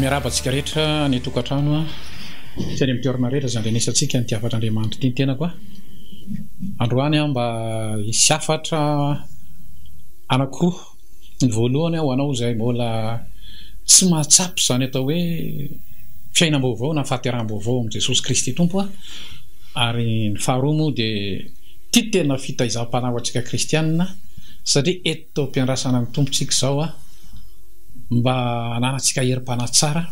Miarahaba antsika rehetra any an-tokantrano sy any amin'ny toerana rehetra izay andrenesantsika ity hafatr'Andriamanitra ity ny tenako. Androany aho mba hisy hafatra anankiroa. Ny voalohany ho anao izay mbola tsy mahatsapa izany atao hoe fiainam-baovao na fahateraham-baovao amin'i Jesosy Kristy Tompo. Ary ny faharoa moa dia ity tena fitaizam-panahy ho antsika kristianina satria eto. taom-piandrasana ny Tompontsika izao aho mba hananantsika herim-panahy tsara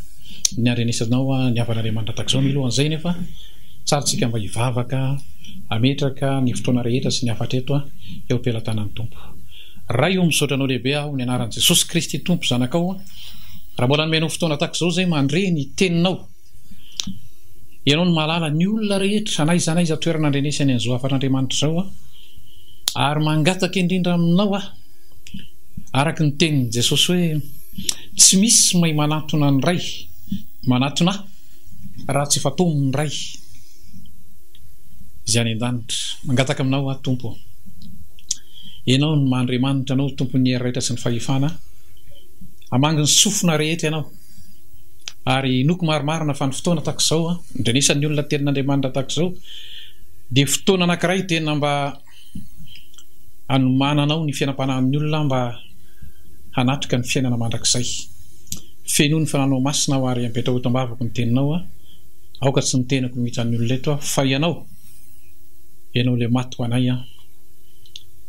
ny handrenesanao ny havanareo mandrakizao. Milohan'izay anefa, tsara tsika mba hivavaka, hametraka ny fotoana rehetra sy ny hafatra eto eo am-pelatanan'ny Tompo. Ray o, misaotra Anao lehibe aho ny anaran'i Jesosy Kristy Tompo, zanakao, raha mbola nomenao fotoana tahaka izao izay mandre ny Teninao. Ianao no mahalala ny olona rehetra, na aiza na aiza toerana andrenesany an'izao hafan'Andriamanitra izao aho, ary mangataka indrindra Aminao aho, araka ny tenin'i Jesosy hoe, Tsy misy mahay manatona ny Ray, manatona ahy, raha tsy efa tao amin'ny Ray Izay any an-danitra. Mangataka Aminao aho, Tompo ô. Ianao no maha Andriamanitra anao, Tompon'ny hery rehetra sy ny fahefana. Hamangy ny sofina rehetra Ianao. ary inoako marimarina fa ny fotoana tahaka izao an, indrindra ny isan'ny olona tenin' Andriamanitra tahaka izao dia fotoana anankiray tena mba hanomananao ny fiainam-panahin'ny olona mba hanatrika ny fiainana mandrakizay. Fenoy ny fananao masina aho ary apetraho eto am-bavako ny teninao an, aoka tsy ny tenako no hitan'ny olona eto an, fa ianao, ianao ilay maty ho anay an,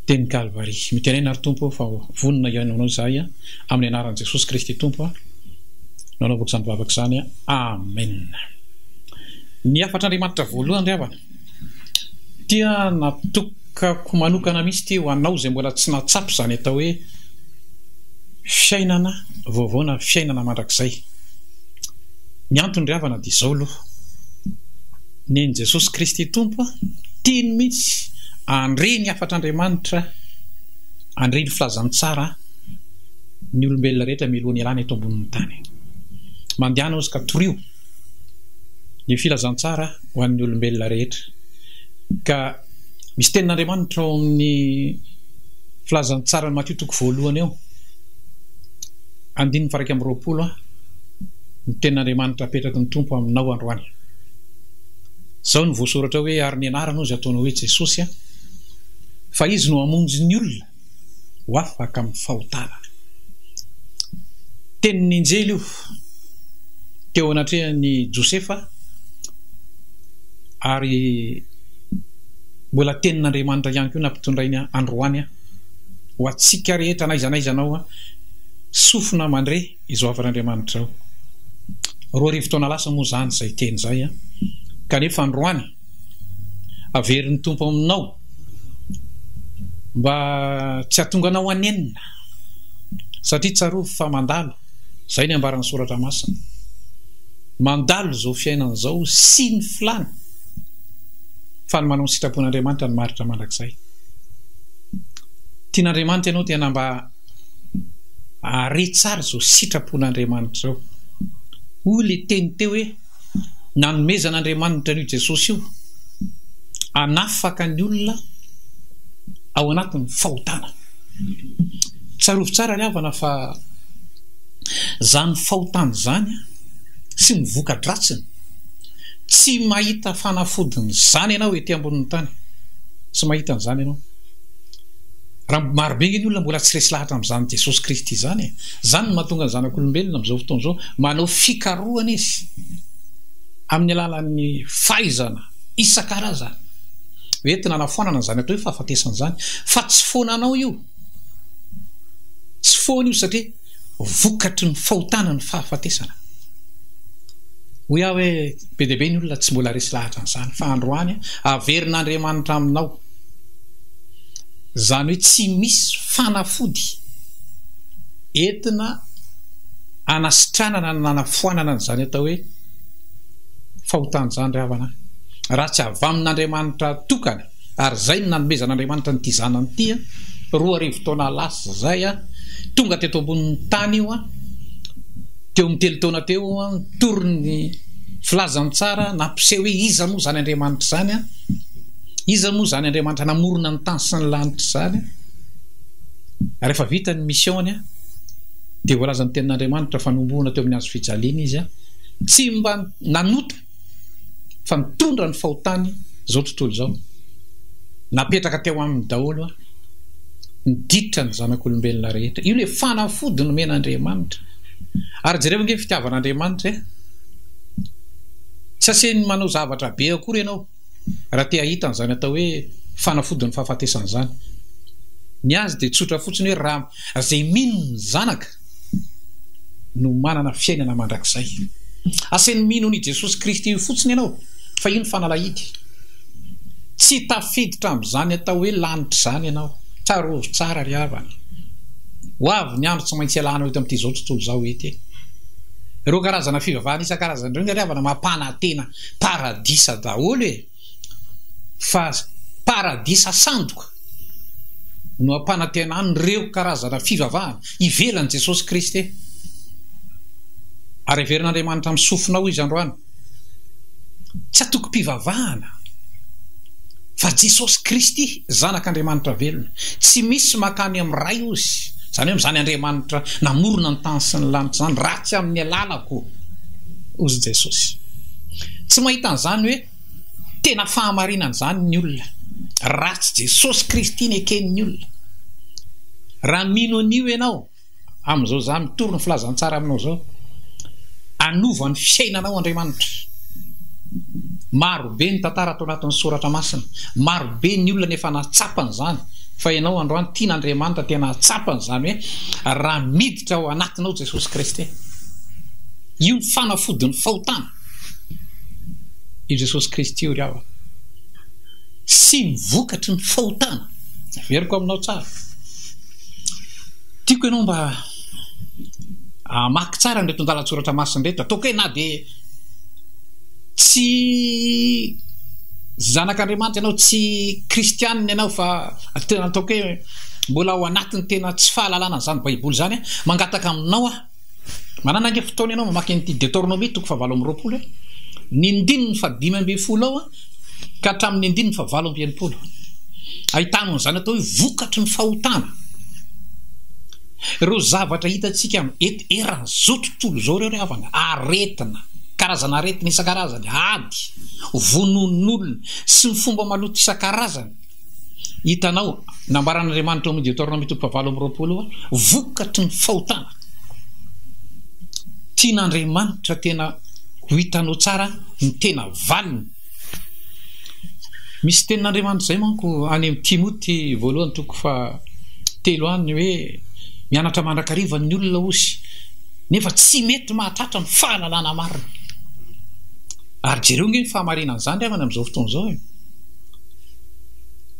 teny Kalvary. Mitenena ry Tompo ô fa vonona hihaino anao izahay an. Amin'ny anaran'i Jesosy Kristy Tompo aho no anaovako izany vavaka izany. Amena. Ny hafatr'Andriamanitra voalohany ry havana dia natokako manokana mihitsy ity ho anao izay mbola tsy nahatsapa izany atao hoe fiainana vaovao na fiainana mandrakizay. Ny antony ry havana dia izao aloha. Nen'i Jesosy Kristy Tompo tiany mihitsy handre ny hafatr'Andriamanitra, handre ny filazantsara. ny olombelona rehetra mialoha ny hialana eto ambonin'ny tany. Mandehana hozy ka torio ny filazantsara ho an'ny olombelona rehetra. Ka misy tenin'Andriamanitra ao amin'ny filazantsara Matio toko voalohany eo, andininy faraika amroapolo a, ny tenin'Andriamanitra apetraky ny tompo aminao androany. Zao ny voasoratra hoe ary ny anarany hozy ataony hoe Jesosy a, fa izy no hamonjy ny olona. ho afaka amin'ny fahotana. Tenin'ny anjely io teo anatrehan'i Josefa ary mbola tenin'Andriamanitra ihany koa nampitondrainy androany ho antsika rehetra n'aiza n'aiza anao sofina mandre izao havan'Andriamanitra izao. Roa arivo taona lasa moa izany izay teny izay kanefa androany Averin'ny Tompo aminao mba tsy hatonganao hanenina satria tsarovy fa mandalo, izay ny ambaran'ny soratra masina, mandalo izao fiainana izao sy ny filany fa ny manao ny sitrapon'Andriamanitra no maharitra mandrakizay. Tian'Andriamanitra ianao tena mba hare tsara izao sitrapon'Andriamanitra izao. Hoy ilay teny teo hoe. Nanomezan'Andriamanitra an'io Jesosy io hanafaka ny olona ao anatin'ny fahotana. Tsarovy tsara ry havana fa izany fahotana izany sy ny voka-dratsiny, tsy mahita fanafodiny izany ianao ety ambonin'ny tany. Tsy mahita an'izany ianao. Raha marobe ny olona mbola tsy resy lahatra amin'izany Jesosy Kristy izany e! Izany no mahatonga ny zanak'olombelona amin'izao fotoana izao manao fikarohana izy amin'ny alalan'ny fahaizana isan-karazany ho entina hanafoanana izany atao hoe fahafatesana izany fa tsy foana anao io, tsy foana io satria. vokatry ny fahotana ny fahafatesana. Hoy aho hoe be dia be ny olona tsy mbola resy lahatra an'izany fa androany averin'Andriamanitra aminao. Izany hoe tsy misy fanafody entina anasitranana na anafoanana an'izany atao hoe fahotana izany ry havana. Raha tsy avy amin'Andriamanitra tokana Ary izay no nanomezan'Andriamanitra an'ity Zanany ity, roa arivo taona lasa izay. Tonga teto ambonin'ny tany Io, teo amin'ny telo taona teo, nitory ny filazany tsara, nampiseho hoe iza moa izany Andriamanitra izany, iza moa izany Andriamanitra namorona ny tany sy ny lanitra izany. Rehefa vita ny mission-ny, dia voalazan'ny Tenin'Andriamanitra fa nohomboana teo amin'ny hazo fijaliana Izy. Tsy mba nanota. fa mitondra ny fahotany izao tontolo izao. Napetraka teo aminy daholo aho. Miditra ny zanak'olombelona rehetra. Io le fanafody nomen'Andriamanitra. Ary jereo ange fitiavan'Andriamanitra eh. Tsy asen'ny manao zavatra be akory ianao raha te hahita an'izany atao hoe fanafodin'ny fahafatesana izany. Ny azy dia tsotra fotsiny hoe raha izay mino ny zanaka no manana fiainana mandrakizay. Asainy mino an'i Jesosy Kristy io fotsiny ianao, fa io ny fanalahidy. Tsy tafiditra amin'izany atao hoe lanitra izany ianao. Tsarovy tsara ry havana. Ho avy ny andro tsy maintsy hialanao eto amin'ity izao tontolo izao ity. Ireo karazana fivavahana isan-karazany ireo ry havana mampanantena paradisa daholo e. fa paradisa sandoka no hampanantenan'ireo karazana fivavahana ivelan'i Jesosy Kristy. Ary heverin'Andriamanitra amin'ny sofina ao izy androany. Tsy atokom-pivavahana fa Jesosy Kristy. Zanak'Andriamanitra velona. Tsy misy mankany amin'ny Ray ozy, izany hoe amin'izany Andriamanitra namorona ny tany sy ny lanitra izany, raha tsy amin'ny alalako, hozy i Jesosy. Tsy mahita an'izany hoe tena fahamarinana izany ny olona, raha tsy Jesosy Kristy neken'ny olona. Raha mino an'io ianao, Amin'izao izaho mitory ny filazantsara aminao izao. Anova ny fiainanao Andriamanitra. Marobe ny tantara ato anatin'ny soratra masina. Marobe ny olona no efa nahatsapa an'izany. Fa ianao androany tian'Andriamanitra tena hahatsapa an'izany hoe raha miditra ao anatinao Jesosy Kristy. Io ny fanafodin'ny fahotana. Io Jesosy Kristy io ry havana. Sy ny vokatry ny fahotana. Averiko aminao tsara. Tiako ianao mba hamaky tsara an'ireto andalan-tsoratra masina ireto. Ataoko hoe na dia tsy zanak'Andriamanitra ianao, tsy kristianina ianao fa tena ataoko hoe mbola ao anatin'ny tena tsy fahalalana an'izany Baiboly izany, mangataka aminao aho. Manana ange fotoana ianao mamaky an'ity Deteronomia toko fahavalo amby roapolo e, ny ndininy fahadimy ambin'ny folo ao ka hatramin'ny andininy fahavalo amby enimpolo. Ahitanao an'izany atao hoe vokatry ny fahotana. Ireo zavatra hitantsika eto eran'izao tontolo izao ireo ry havana, aretina, karazana aretina isan-karazany, ady, vonoan'olona sy ny fomba maloto isan-karazany. Hitanao, nambaran'Andriamanitra ao amin'ny Deoteronômy toko fahavalo amby roapolo hoe vokatry ny fahotana. Tian'Andriamanitra tena ho hitanao tsara ny tena valiny. Misy tenin'Andriamanitra izay manko any amin'ny Timoty voalohany toko fahatelo any hoe mianatra mandrakariva ny olona hozy nefa tsy mety mahatratra ny fahalalana marina. Ary jereo ange ny fahamarinan'izany ry havana amin'izao fotoana izao e!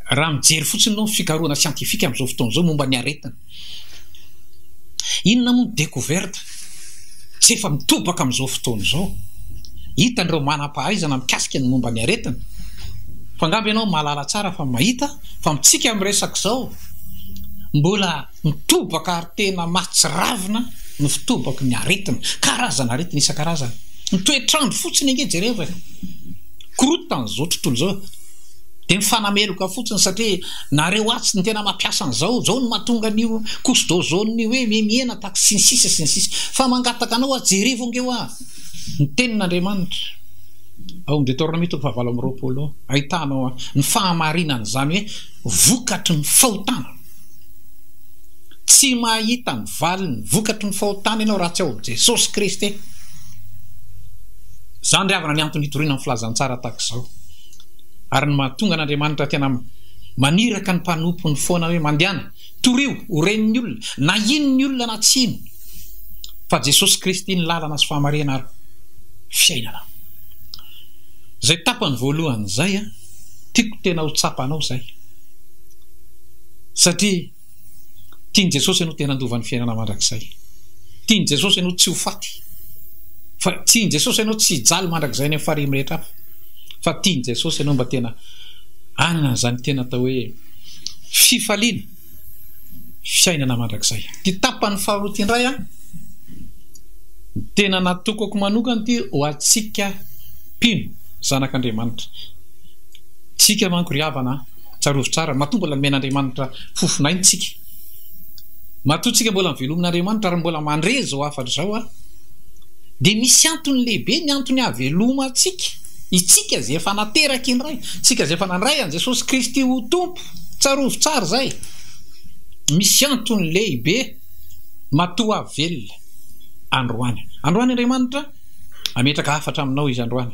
Raha mijery fotsiny aloha ny fikarohana siantifika amin'izao fotoana izao momba ny aretina, inona moa ny découverte tsy efa mitobaka amin'izao fotoana izao? Hitan'ireo manam-pahaizana mikasika ny momba ny aretina fa angamba ianao mahalala tsara fa mahita fa amintsika miresaka izao mbola Mitobaka ary tena mahatsiravina ny fitobaky ny aretina, karazan'aretina isan-karazany. Ny toetr'andro fotsiny ange jereo fa korontana izao tontolo izao e! Dia mifanameloka fotsiny satria nareo atsy no tena mampiasa an'izao, izao no mahatonga an'io couche d'ozone-ny hoe mihena tax sy ny sisa sy ny sisa. Fa mangataka anao aho jerevo ange hoa ny tenin'Andriamanitra ao amin'ny Detornamia toko fahavalo amby roapolo ao, ahitana ny fahamarinan'izany hoe vokatry ny fahotana. Tsy mahita ny valiny, vokatry ny fahotana ianao raha tsy ao amin'i Jesosy Kristy. Izany ry havana ny antony hitoriana ny filazantsara tahaka izao ary ny mahatonga an'Andriamanitra tena maniraka ny mpanompony foana hoe mandehana, torio ho ren'ny olona na ino ny olona na tsy ino fa Jesosy Kristy ny lalana sy fahamarihana ary fiainana. Izay tapany voalohany izay, tiako tena ho tsapanao izay. Satria tian'i Jesosy ianao tena handova ny fiainana mandrakizay. Tian'i Jesosy ianao tsy ho faty. Fa tian'i Jesosy ianao tsy hijaly mandrakizay any amin'ny farihy mirehitra hafa. Fa tian'i Jesosy ianao mba tena hanana an'izany tena atao hoe fifaliana, fiainana mandrakizay. Ity tapany faharoa ity indray an, tena natokako manokana ity ho antsika mpino zanak'Andriamanitra. Tsika manko ry havana an. Tsarovy tsara, matoa mbola nomen'Andriamanitra fofon'aina isika. Matoa isika mbola novelomin'Andriamanitra ary mbola mandre izao hafatra izao ary dia misy antony lehibe ny antony havelomantsika isika izay efa nateraky ny Ray, isika izay efa nandray an'i Jesosy Kristy ho Tompo. Tsarovy tsara izay. Misy antony lehibe matoa velona androany. Androany Andriamanitra hametraka hafatra aminao izy androany.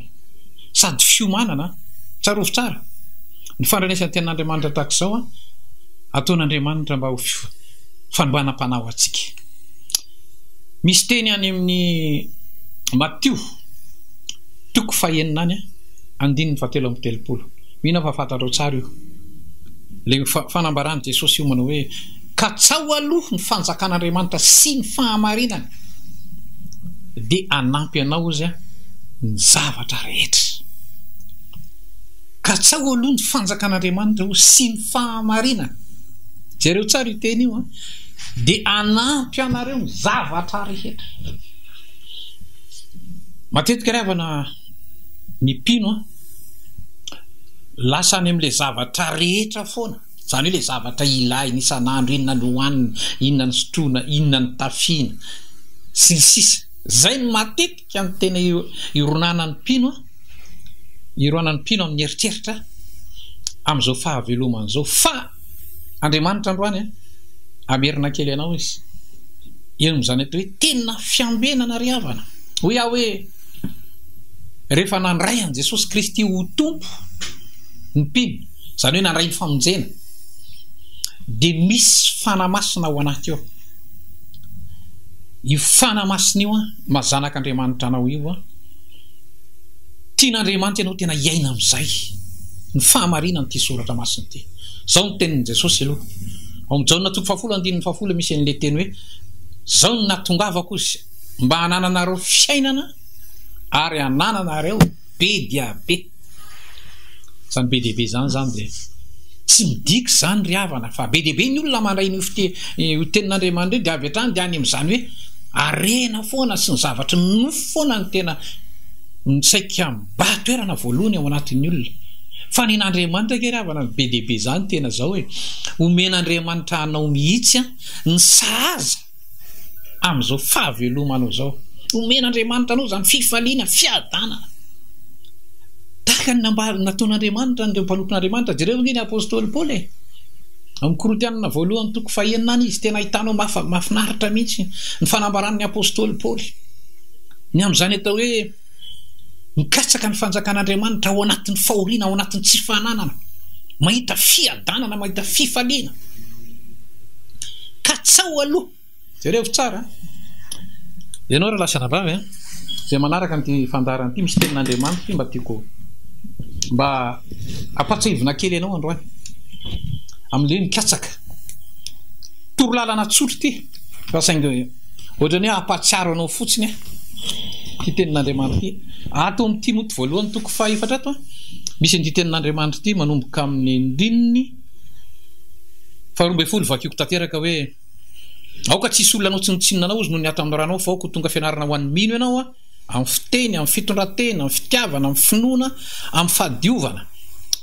Sady fiomanana an! Tsarovy tsara ny fandranesany tenin'Andriamanitra tahaka izao an! Ataon'Andriamanitra mba ho fanombanam-panahy ho antsika. Misy teny any amin'ny Matio toko fahenina any an, andininy fahatelo amby telopolo. Mino aho fa fantatrao tsara io. Ilay fanambaran'i Jesosy hiomana hoe. Katsaho aloha ny fanjakan'Andriamanitra sy ny fahamarinany dia hanampy anao Izy amin'ny zavatra rehetra. Katsaho aloha ny fanjakan'Andriamanitra o sy ny fahamarinany. Jereo tsara io teny io an. Dia hanampy anareo ny zavatra rehetra. Matetika ry havana ny mpino an, lasa any amin'ilay zavatra rehetra foana. Izany hoe ilay zavatra ilahina isan'andro, inona no hohanina, inona no sotroina, inona no tafiana, sy ny sisa Izay no matetika no tena ironanan'ny mpino an, ironan'ny mpino amin'ny eritreritra amin'izao fahavelomany izao. Fa Andriamanitra androany an, hamerina kely anao Izy eo amin'izany atao hoe tena fiambenana ry havana. Hoy aho hoe rehefa nandray an'i Jesosy Kristy ho Tompo ny mpino, izany hoe nandray ny famonjena, dia misy fanahy masina ao anaty ao. Io fanahy masina io an, maha zanak'Andriamanitra anao io an, tian'Andriamanitra ianao tena hiaina amin'izay ny fahamarinan'ity soratra masina ity. Izao ny tenin'i Jesosy aloha. Ao amin'ny Jaona toko fahafolo andininy fahafolo misy an'ilay teny hoe izao no nahatongavako mba hanananareo fiainana ary hanananareo Be dia be. Izany be dia be izany izany dia tsy midika izany ry havana fa be dia be ny olona mandray an'io io tenin'Andriamanitra io dia avy hatrany dia any amin'izany hoe harena foana sy ny zavatry ny nofo foana no tena saika mibaha toerana voalohany ao anatin'ny olona. Fa ny an'Andriamanitra anie ry havana be dia be izany tena izao e. Omen'Andriamanitra anao mihitsy ny sahaza. amin'izao fahavelomanao izao. Omen'Andriamanitra anao izany fifaliana, fiadanana tahaka ny nataon'Andriamanitra an'ireo mpanompon'Andriamanitra. Jereo ve ny apostoly Paoly e! Ao amin'ny Korintianina voalohany toko fahenina any izy, tena ahitanao mahafinaritra mihitsy ny fanambaran'ny apostoly Paoly ny amin'izany atao hoe. Mikatsaka ny fanjakan'Andriamanitra ao anatin'ny fahoriana, ao anatin'ny tsy fananana, mahita fiadanana, mahita fifaliana. Katsao aloha. Jerevo tsara. Ianao raha lasa anabavy an, izay manaraka an'ity fandaharana ity misy tenin'Andriamanitra ity mba tiako mba ampatsahivina kely ianao androany. Amin'ilay mikatsaka. Toro lalana tsotra ity. Fa saingy Ohatran'ny hoe hampahatsiaro anao fotsiny aho ity tenin'Andriamanitra ity. Ato amin'ny Timoty voalohany toko fahefatra ato, misy an'ity tenin'Andriamanitra ity manomboka amin'ny andininy faharoa ambin'ny folo. Vakiako tanteraka hoe, Aoka tsy hisy olona hanao tsinontsinona anao, hozy noho ny ato amin'ny ranao, fa aoka ho tonga fianarana ho an'ny mino ianao. amin'ny fiteny, amin'ny fitondran-tena, amin'ny fitiavana, amin'ny finoana, amin'ny fahadiovana.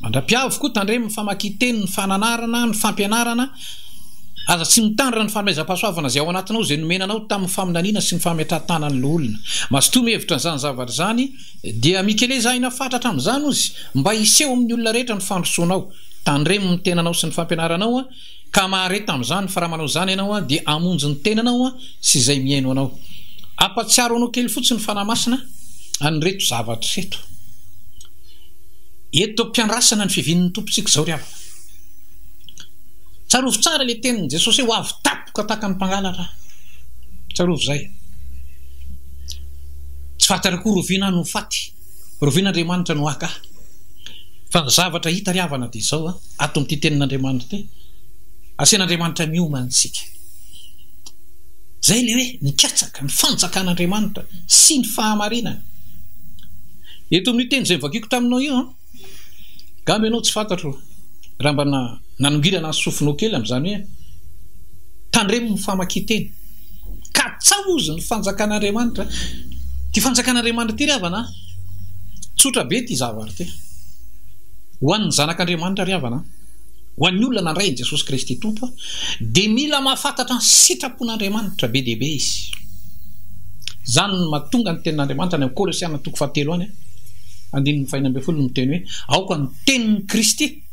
Mandra-piavo koa tandremo ny famakian-teny, ny fananarana, ny fampianarana. Aza tsy mitandrina ny fanomezam-pahasoavana izay ao anatinao, izay nomena anao tamin'ny faminaniana sy ny fametrahan-tàna ny loholona. Mazotoa mihevitra an'izany zavatra izany, dia mikeleza aina fatratra amin'izany ozy, mba hiseho amin'ny olona rehetra ny fandrosoanao. Tandremo ny tenanao sy ny fampianaranao. Ka mahare tamin'izany fa raha manao izany ianao dia hamonjy ny tenanao sy izay mihaino anao. Hampatsiaro anao kely fotsiny ny Fanahy Masina an'ireto zavatra ireto. Eto am-piandrasana ny fivian'ny Tompontsika izao ry havana. Tsarovy tsara ilay tenin'i Jesosy hoe ho avy tampoka tahaka ny mpangalatra aho. Tsarovy izay. Tsy faty akory oviana no faty. Rovin'Andriamanitra no haka ahy. Fa ny zavatra hita ry havana dia izao, ato amin'ity tenin'Andriamanitra ity, asian'Andriamanitra mioma antsika. Izay ilay hoe ny katsaka, ny fanjakan'Andriamanitra sy ny fahamarinany. Eto amin'io teny izay novakiako taminao io, angamba ianao tsy fantatro raha mba nanongirana ny sofinao kely amin'izany hoe tandremo ny famakian-teny. Katsaho ozy ny fanjakan'Andriamanitra. Ity fanjakan'Andriamanitra ity ry havana an, tsotra be ity zavatra ity. Ho an'ny zanak'Andriamanitra ry havana an, ho an'ny olona nandray an'i Jesosy Kristy Tompo an, dia mila mahafantatra ny sitrapon'Andriamanitra be dia be izy. Izany no mahatonga ny tenin'Andriamanitra any amin'ny Kolosiana toko fahatelo any an, andininy fahenina ambin'ny folo no miteny hoe aoka ny tenin'i Kristy.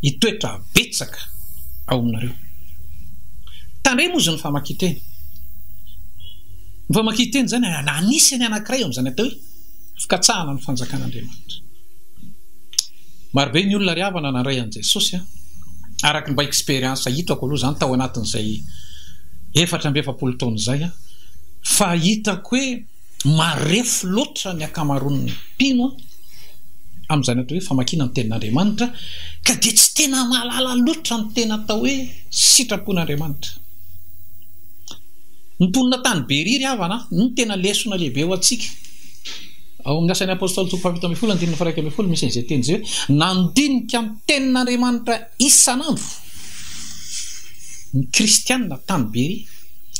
hitoetra betsaka ao aminareo. Tandremo izy ny famakian-teny. Ny famakian-teny izany anisan'ny anankiray amin'izany atao hoe fikatsahana ny fanjakan'Andriamanitra. Marobe ny olona ry havana nandray an'i Jesosy araka ny mba expérience hitako aloha izany tao anatin'izay efatra amby efapolo taona izay fa hitako hoe Marefo loatra ny ankamaroan'ny mpino amin'izany atao hoe famakiana ny Tenin'Andriamanitra ka dia tsy tena mahalala loatra ny tena atao hoe sitrapon'Andriamanitra. Ny mponina tany Beria ry havana no tena lesona lehibe ho antsika. Ao amin'ny Asan'ny Apôstôly toko fahafito ambin'ny folo andininy faha-iraika ambin'ny folo misy an'izay teny izay hoe nandinika ny Tenin'Andriamanitra Isan'andro, ny Kristianina tany Beria,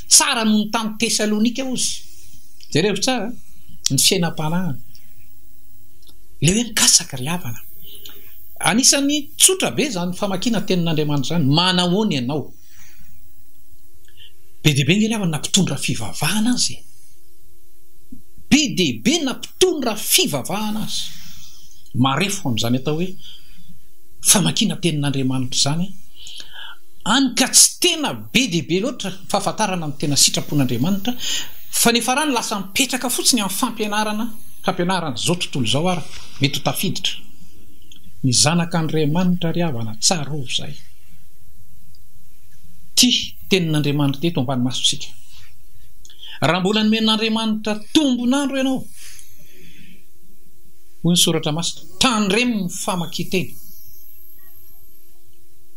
tsara noho ny tany Tesalonika hozy. Jereo tsara ny fiainam-panahiny. Ilay hoe mikasaka ry havana. Anisan'ny tsotra be izany famakiana ny tenin'Andriamanitra izany. Manahoana ianao? Be dia be ngehilava na mpitondra fivavahana aza e! Be dia be na mpitondra fivavahana aza! Marefo amin'izany atao hoe famakiana tenin'Andriamanitra izany hany ka tsy tena be dia be loatra fahafantarana ny tena sitrapon'Andriamanitra fa ny farany lasa mipetraka fotsiny amin'ny fampianarana fampianaran'izao tontolo izao ary mety ho tafiditra. Ny zanak'Andriamanitra ry havana, tsarovy izay. tia tenin'Andriamanitra teto ambany masontsika. Raha mbola nomen'Andriamanitra tombon'andro ianao, hoy ny soratra masina, tandremo ny famakian-teny.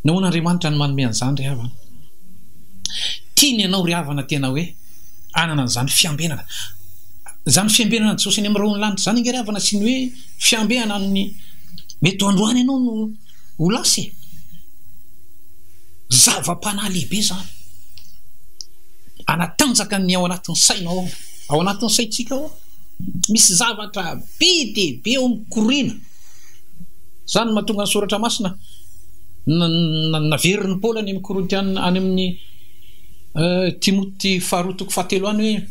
Nahoana Andriamanitra no manome an'izany ry havana? Tiany ianao ry havana tena hoe hanana an'izany fiambenana. Izany fiambenana an'i Jesosy any amin'ny rahon'ny lanitra izany ange ry havana sy ny hoe fiambenana amin'ny mety ho androany ianao no ho lasa e! Zava-panahy lehibe izany. Hanatanjaka ny ao anatin'ny saina ao. Ao anatin'ny saintsika ao, misy zavatra be dia be ao mikoriana. Izany no mahatonga ny soratra masina naverin'i Paoly any amin'ny Korintiana any amin'ny euh, Timoty faharoa toko fahatelo any hoe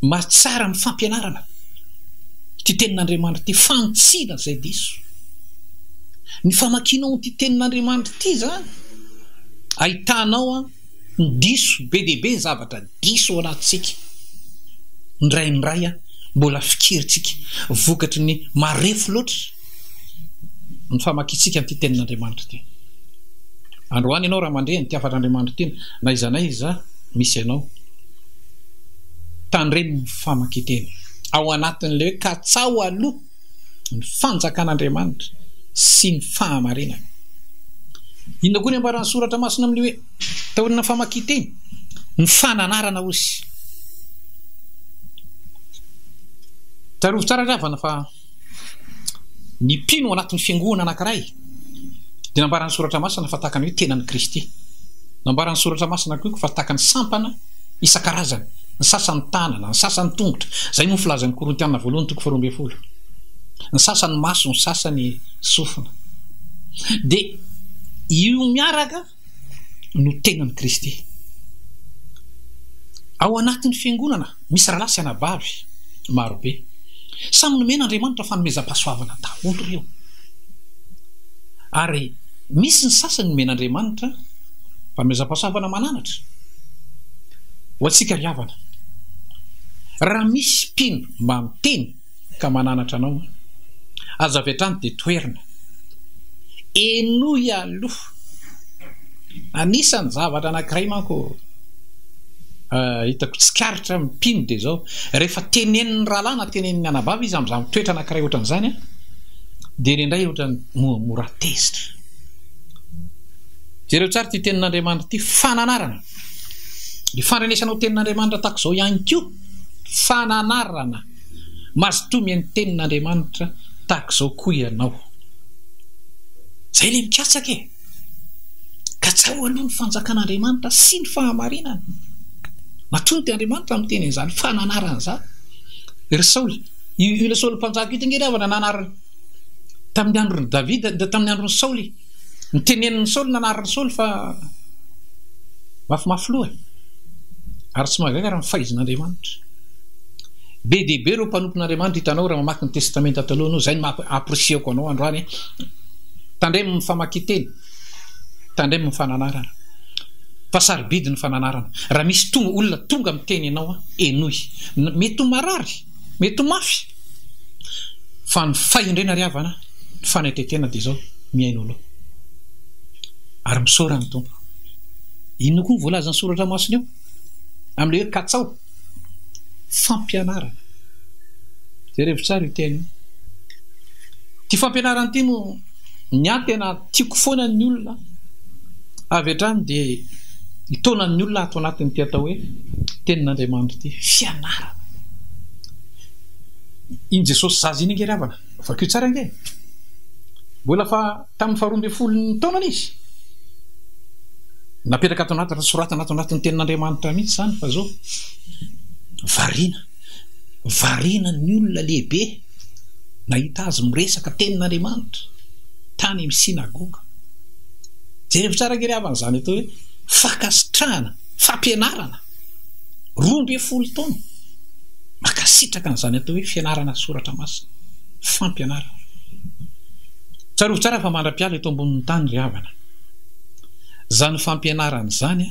mahatsara amin'ny fampianarana. Ity tenin'Andriamanitra ity, fantsina izay diso. Ny famakianao an'ity tenin'Andriamanitra ity izany, ahitanao ny diso, be dia be ny zavatra diso ao anatintsika. Indraindray mbola fikerintsika vokatry ny marefo loatra ny famakiantsika an'ity tenin'Andriamanitra ity. Androany ianao raha mandre an'ity hafan'Andriamanitra ity, na iza na iza misy anao. Tandremo ny famakian-teny ao anatin'ilay hoe katsaho aloha ny fanjakan'Andriamanitra sy ny fahamarinany. Inona koa ny ambaran'ny soratra masina amin'ny hoe taorian'ny famakian-teny? Ny fananarana ozy. Tsarovy tsara ry havana fa. Ny mpino ao anatin'ny fiangoana anankiray dia nambaran'ny Soratra Masina fa tahaka ny hoe tenan'i Kristy. Nambaran'ny Soratra Masina koa fa tahaka ny sampana isan-karazany, ny sasany tanana, ny sasany tongotra. Izay moa ny filazan'ny Korintiana voalohany toko faharoa ambin'ny folo. Ny sasany maso, ny sasany sofina. Dia io miaraka. no tenan'i Kristy. Ao anatin'ny fiangonana, misy rahalahy sy anabavy maro be. Samy nomen'Andriamanitra fanomezam-pahasoavana daholo ireo. Ary misy ny sasany nomen'Andriamanitra fanomezam-pahasoavana mananatra. Ho antsika ry havana, raha misy mpino mba miteny, ka mananatra anao an! Aza avy hatrany dia toerina. Henoy aloha. Anisan'ny zavatra anankiray manko hitako tsikaritra ny mpino dia izao, rehefa tenenin'ny rahalahy na tenenin'ny anabavy izy amin'izany toetra anankiray ohatran'izany an, dia ireo indray ohatran'ny mora tezitra. Jereo tsara ity tenin'Andriamanitra ity, fananarana. Ny fandrenesanao tenin'Andriamanitra tahaka izao ihany koa, fananarana. Mazotoa mihaino tenin'Andriamanitra tahaka izao koa ianao. Izay ilay mikatsaka e! Katsaho aloha ny fanjakan'Andriamanitra sy ny fahamarinany. Matoa ny Andriamanitra miteny an'izany fa nanarany izany. Ry Saoly, io ilay Saoly mpanjaka io dia angedavana nanarany tamin'ny andron'i Davida, tamin'ny andron'i Saoly. Nitenenin'i Saoly nanarin'i Saoly fa mafimafy loha ary tsy mahagaga raha mifaizin'Andriamanitra. Be dia be ireo mpanompon'Andriamanitra hitanao raha mamaky ny Testamenta Taloha anao, izay no maha-apprecier-ko anao androany. Tandremo ny famakian-teny, tandremo ny fananarana fa sarobidy ny fananarana. Raha misy tonga, olona tonga miteny ianao, henoy. Mety ho marary. Mety ho mafy fa ny fahendrena ry havana ny fanaitretena dia izao mihaino aloha ary misaora ny Tompo. Inona koa ny voalazan'ny soratra masina eo amin'ilay hoe katsaho? Fampianarana. Jerevo tsara io teny io. Ity fampianarana ity no ny ahy tena Tiako foana ny olona. Avy hatrany dia mitaona ny olona ato anatin'ity atao hoe Tenin'Andriamanitra ity. Fianarana. Iny Jesosy zaza iny ange ry havana, vakio tsara ange e. Mbola fa tamin'ny faharoa ambin'ny folon'ny taonany izy. Napetraka ato anaty soratana ato anatin'ny Tenin'Andriamanitra mihitsy izany fa izao variana. Variana ny olona lehibe. nahita azy miresaka tenin'Andriamanitra tany amin'ny synagoga. Jereo tsara ange ry havana izany atao hoe fankasitrahana, fampianarana. Roa ambin'ny folo taona. Mankasitraka an'izany atao hoe fianarana soratra masina, fampianarana. Tsarovy tsara fa mandra-piala eto ambonin'ny tany ry havana. Izany fampianarana izany,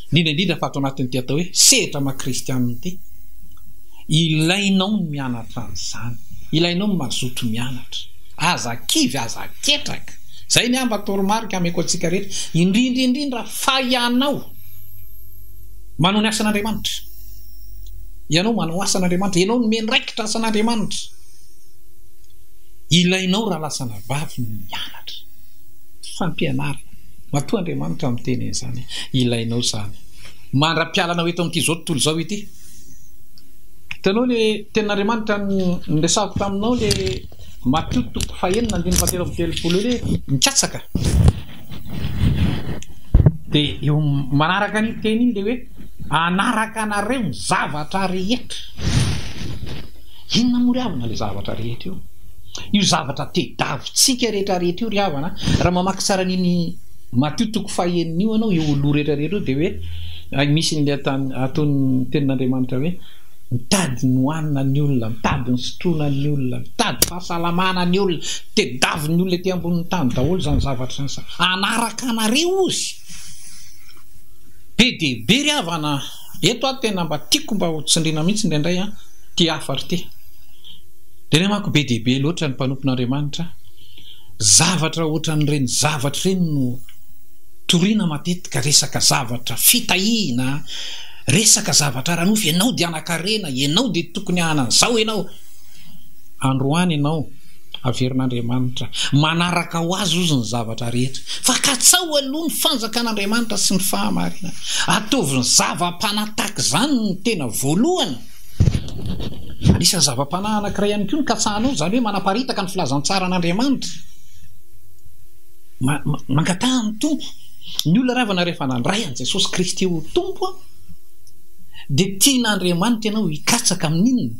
indrindra indrindra fa ato anatin'ity atao hoe sehatra maha-kristianina ity. Ilainao ny mianatra an'izany. Ilainao ny mazoto mianatra. Aza kivy, aza ketraka. Izay ny amba toromarika ameko antsika rehetra, indrindra indrindra fa ianao manao ny asan'Andriamanitra. Ianao manao asan'Andriamanitra, ianao no miandraikitra asan'Andriamanitra. Ilainao raha lasana vavy ny mianatra. Fampianarana. Matoa Andriamanitra miteny an'izany. Ilainao izany. Mandra-pialanao eto amin'ity izao tontolo izao ity. Hitanao le tenin'Andriamanitra niresahako taminao le Matio toko fahenina andininy fahatelo amby telopolo le mikatsaka de eo manaraka ny teny iny le hoe anaraka anareo ny zavatra rehetra inona moa ry havana le zavatra rehetra io io zavatra tedavitsika rehetra rehetra io ry havana raha mamaky tsara an'iny Matio toko faha enina io ianao io loha rehetra rehetra io dia hoe hay misy ny ataon'ny tenin'Andriamanitra hoe mitady ny hohanina ny olona, mitady ny sotroina ny olona, mitady fahasalamana ny olona, tedaviny olona ety ambonin'ny tany daholo izany zavatra izany, hanaraka anareo ozy, be dia be ry havana a! Eto aho tena mba tiako mba ho tsindriana mihitsy indraindray an, ity hafatra ity. Dia ilay manko be dia be loatra ny mpanompon'Andriamanitra, zavatra ohatran'ireny zavatra ireny no toriana matetika, resaka zavatra fitahiana, resaka zavatra ara-nofo, ianao dia hanan-karena, ianao dia tokony hanana an'izao ianao. Androany ianao averin'Andriamanitra. Manaraka ho azy ozy ny zavatra rehetra. Fa katsao aloha ny fanjakan'Andriamanitra sy ny fahamarinany. Ataovy ny zava-panahy tahaka izany no tena voalohany. Anisan'ny zava-panahy anankiray ihany koa ny katsahanao, izany hoe manaparitaka ny filazantsaran'Andriamanitra. Mangataha ny Tompo. Ny olona ravana rehefa nandray an'i Jesosy Kristy ho Tompo dia tian'Andriamanitra ianao hikatsaka amin'inona?